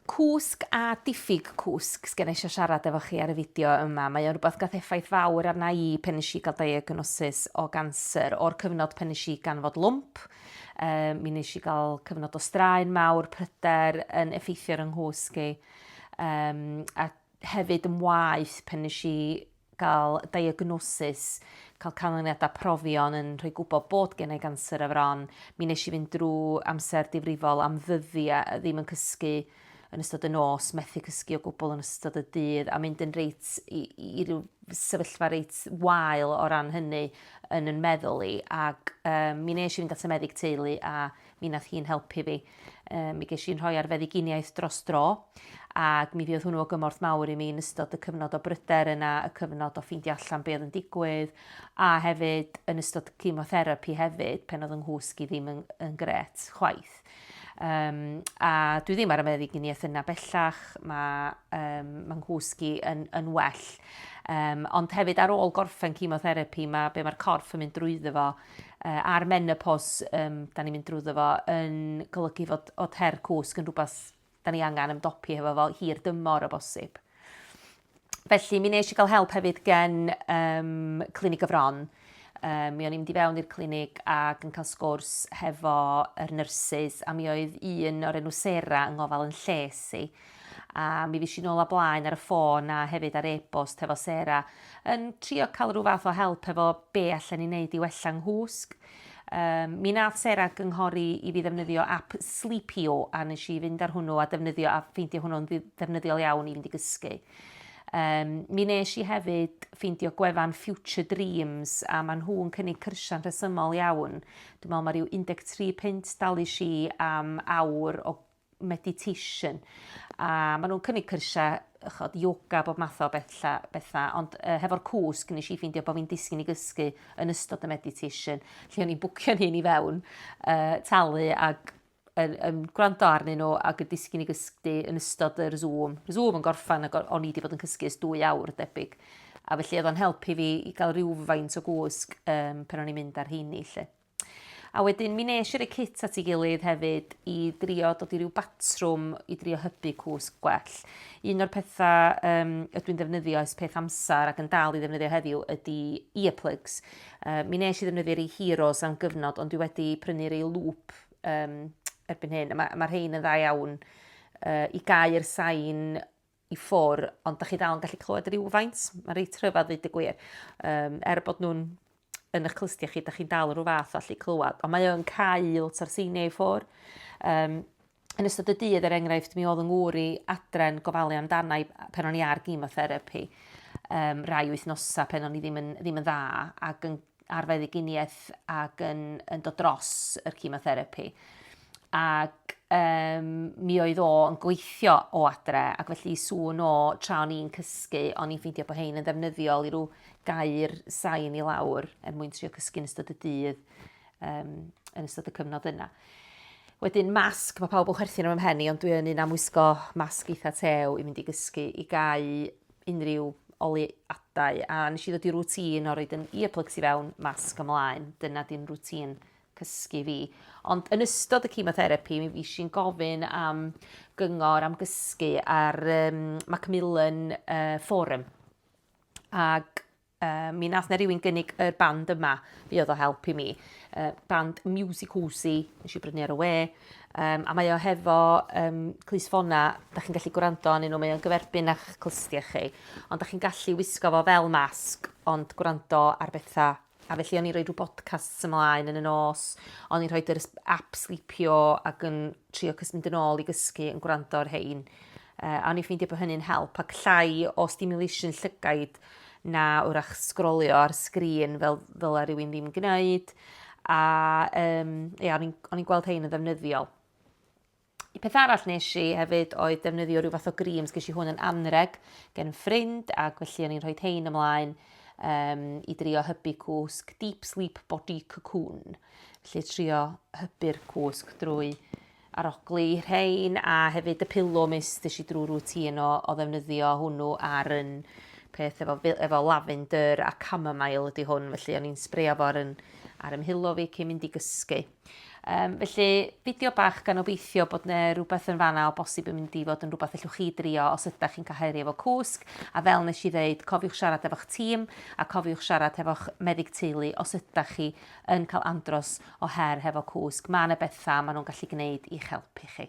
Cwsg a diffyg cwsg, sgen i eisiau siarad efo chi ar y fideo yma. Mae o'n rhywbeth gath effaith fawr arna i pen nes i gael diagnosis o ganser. O'r cyfnod pen nes i ganfod lwmp, um, mi nes i gael cyfnod o straen mawr, pryder yn effeithio ar yng nghwsg i, um, a hefyd yn waith pen nes i cael diagnosis, cael canlyniadau profion yn rhoi gwybod bod gen i ganser y fron. Mi nes i fynd drwy amser difrifol am ddyddiau a ddim yn cysgu yn ystod y nos, methu cysgu o gwbl yn ystod y dydd a mynd yn reit i, i ryw sefyllfa reit wael o ran hynny yn yn meddwl i ac um, mi nes i fynd at y meddyg teulu a Mi nath hi'n helpu fi. Yy mi gesh i'n rhoi ar feddyginiaeth dros dro, ag mi fuodd hwnnw o gymorth mawr i mi yn ystod y cyfnod o bryder yna, y cyfnod o ffeindio allan be' o'dd yn digwydd, a hefyd yn ystod cemotherapi hefyd pen o'dd 'y nghwsg i ddim yn yn grêt chwaith. Yym a dwi ddim ar y meddyginiaeth yna bellach, ma' yym ma' nghwsg i yn yn well. Yym ond hefyd ar ôl gorffen cemotherapi ma' be' ma'r corff yn mynd drwyddo fo uh, a'r menopos um, da ni'n mynd drwyddo fo yn golygu fod o ter cwsg yn rhywbeth da ni angen ymdopi hefo fo hir dymor o bosib. Felly, mi nes i gael help hefyd gen um, clinig y fron. Um, mi o'n i'n mynd i fewn i'r clinig ac yn cael sgwrs hefo yr nyrsys a mi oedd un o'r enw Sera yng ngofal yn lles i. A mi fues i nôl a blaen ar y ffôn a hefyd ar e-bost hefo Sarah yn trio cael rhyw fath o help hefo be allan i wneud i wella nghwsg. Um, mi nath Sarah gynghori i fi ddefnyddio app Sleepio a nes i fynd ar hwnnw a defnyddio a ffeindio hwnnw'n ddefnyddiol iawn i fynd i gysgu. Um, mi nes i hefyd ffeindio gwefan Future Dreams a maen nhw'n cynnig cyrsiau'n rhesymol iawn. Dwi'n meddwl mae rhyw 13 punt dalu si am awr o meditation. A maen nhw'n cynnig cyrsiau chod, yoga, bob math o betha, betha. ond uh, hefo'r cwsg nes i ffeindio bod fi'n disgyn i gysgu yn ystod y meditation, lle o'n i'n bwcio'n hyn i fewn, uh, talu ac yn, yn gwrando arnyn nhw ac yn disgyn i gysgu yn ystod yr Zoom. Yr Zoom yn gorffan ac o'n i wedi bod yn cysgu ys dwy awr debyg. A felly oedd o'n helpu fi i gael rhywfaint o gwsg um, pan o'n i'n mynd ar heini lle. A wedyn mi nes i roi kit at ei gilydd hefyd i drio dod i ryw batrwm i drio hybu cwsg gwell. Un o'r pethau um, ydw i'n ddefnyddio ers peth amser ac yn dal i ddefnyddio heddiw ydy earplugs. Uh, mi nes i ddefnyddio rei Heroes am gyfnod ond dwi wedi prynu rei Loop um, erbyn hyn. Mae ma rhein yn dda iawn uh, i gau'r sain i ffwr, ond da chi dal yn gallu clywed rhywfaint. Mae reit rhyfedd ddweud y gwir. Um, er bod nhw'n yn eich clystiau chi, da chi'n dal rhyw fath o allu clywed. Ond mae o'n cael lot o'r seiniau i ffwr. Um, yn ystod y dydd, er enghraifft, mi oedd yn ngŵr i adren gofalu amdana i pen o'n i ar gymotherapy um, rai wythnosau pen o'n i ddim yn, ddim yn dda ac yn ar feddyginiaeth ac yn, yn dod dros yr chemotherapi. Ac um, mi oedd o yn gweithio o adre, ac felly sŵn o tra o'n i'n cysgu, o'n i'n ffeindio bod hein yn ddefnyddiol i rhyw gair sain i lawr er mwyn trio cysgu yn ystod y dydd, um, yn ystod y cyfnod yna. Wedyn masg, mae pawb yn chwerthin am ymhen i, ond dwi yn un am wisgo masg eitha tew i mynd i gysgu i gau unrhyw oleuadau a nes i ddod i routine o roed yn earplugs i fewn, masg ymlaen. Dyna di'n routine cysgu fi. Ond yn ystod y chemotherapy mi fuesh i'n gofyn am gyngor am gysgu ar um, Macmillan uh, Forum. Ag Yy, mi nath 'na rywun gynnig yr band yma, fuodd o help i mi. Yy, band Music Usi, nes i brynu ar y we. Um, a mae o hefo um, clus ffona, da chi'n gallu gwrando anyn nhw, mae o'n gyferbyn a'ch clystiau chi. Ond da chi'n gallu wisgo fo fel masg, ond gwrando ar bethau A felly o'n i'n rhoi rhyw bodcasts ymlaen yn y nos, o'n i'n rhoi yr app sleepio ac yn trio cys mynd yn ôl i gysgu yn gwrando ar hein. Uh, a o'n i'n ffeindio bod hynny'n help ac llai o stimulation llygaid na wrach sgrolio ar sgrin fel fel ar rywun ddim gwneud. A um, ia, o'n i'n gweld hein yn ddefnyddiol. Y peth arall nes i hefyd oedd defnyddio rhyw fath o grims, ges i hwn yn anreg gen ffrind ac felly o'n i'n rhoi tein ymlaen um, i drio hybu cwsg Deep Sleep Body Cocoon. Felly trio hybu'r cwsg drwy arogli rhein a hefyd y pillow mist ddys i drwy routine o, o ddefnyddio hwnnw ar yn peth efo, efo lavender a chamomile ydy hwn, felly o'n i'n sbreio fo ar, yn, ar ymhilo fi cyn mynd i gysgu. Um, felly, fideo bach gan obeithio bod yna rhywbeth yn fanna o bosib yn mynd i fod yn rhywbeth allwch chi drio os ydych chi'n cael efo cwsg. A fel nes i ddeud, cofiwch siarad efo'ch tîm a cofiwch siarad efo'ch meddyg teulu os ydych chi yn cael andros o her hefo cwsg, mae yna bethau maen nhw'n gallu gwneud i'ch helpu chi.